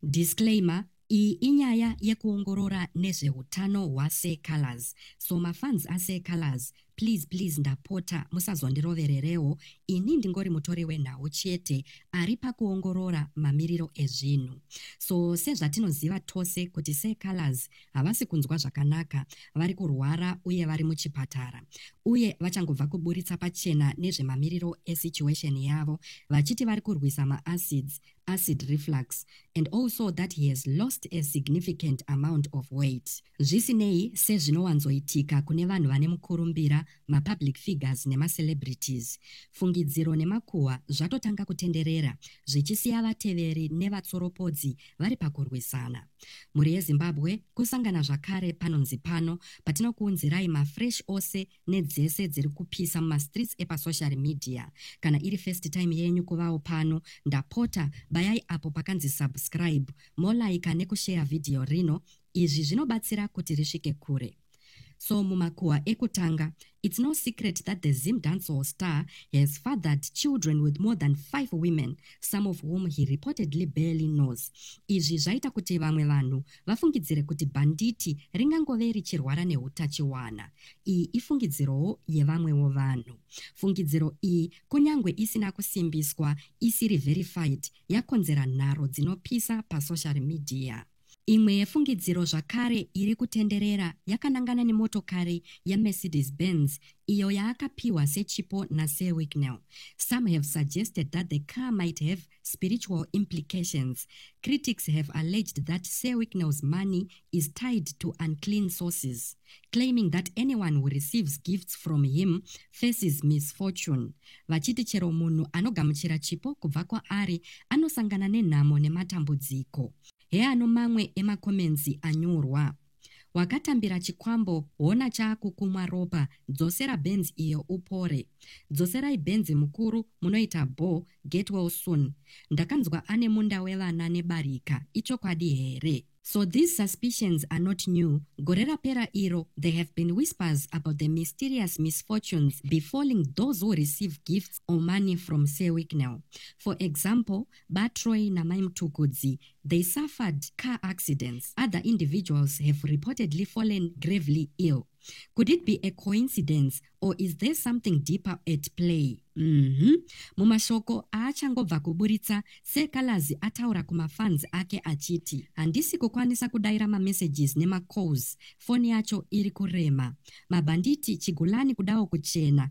Disclaimer, Iyi inyaya yekuongorora nezvehutano hwaSir Calaz. So mafans aSir Calaz, please please ndapota musazondirovererewo, ini ndingori mutori wenhau chete ari pakuongorora mamiriro ezvinhu. So sezvatinoziva tose kuti Sir Calaz havasi kunzwa zvakanaka, vari kurwara uye vari muchipatara. Uye vachangobva kuburitsa pachena nezvemamiriro esituation yavo vachiti vari kurwisa maacids acid reflux and also that he has lost a significant amount of weight zvisinei sezvinowanzoitika kune vanhu vane mukurumbira mapublic figures nemacelebrities fungidziro nemakuhwa zvatotanga kutenderera zvichisiya vateveri nevatsoropodzi vari pakurwisana mhuri yezimbabwe kusangana zvakare panonzi pano patinokuunzirai mafresh ose nedzese dziri kupisa mumastreets epasocial media kana iri first time yenyu kuvawo pano ndapota bayai apo pakanzi subscribe molaika nekushare vhidhiyo rino izvi zvinobatsira kuti risvike kure so mumakuhwa ekutanga it's no secret that the zim dancehall star has fathered children with more than five women some of whom he reportedly barely knows izvi zvaita kuti vamwe vanhu vafungidzire kuti bhanditi ringangove richirwara neutachiwana. Iyi ifungidzirowo yevamwewo vanhu. Fungidziro iyi, kunyange isina kusimbiswa, isiri verified, yakonzera nharo dzinopisa pasocial media. Imwe yefungidziro zvakare iri kutenderera yakanangana nemotokari yeMercedes Benz iyo yaakapiwa sechipo naSir Wicknell. Some have suggested that the car might have spiritual implications. Critics have alleged that Sir Wicknell's money is tied to unclean sources, claiming that anyone who receives gifts from him faces misfortune. Vachiti chero munhu anogamuchira chipo kubva kwaari anosangana nenhamo nematambudziko. Heano mamwe emakomenzi anyorwa. wakatambira chikwambo hona chaakukumwa ropa dzosera benz iyo upore dzoserai benz mukuru munoita bho get well soon ndakanzwa ane munda wevana nebarika ichokwadi here So these suspicions are not new. Gore rapera iro, there have been whispers about the mysterious misfortunes befalling those who receive gifts or money from Sir Wicknell. For example, BaTroy naMai Mtukudzi, they suffered car accidents. Other individuals have reportedly fallen gravely ill. Could it be a coincidence or is there something deeper at play? Mm -hmm. Mumashoko aachangobva kuburitsa, Sekalazi ataura kumafans ake achiti, handisi kukwanisa kudaira mamessages nemacalls, foni yacho iri kurema. Mabhanditi chigulani kudawo kuchena,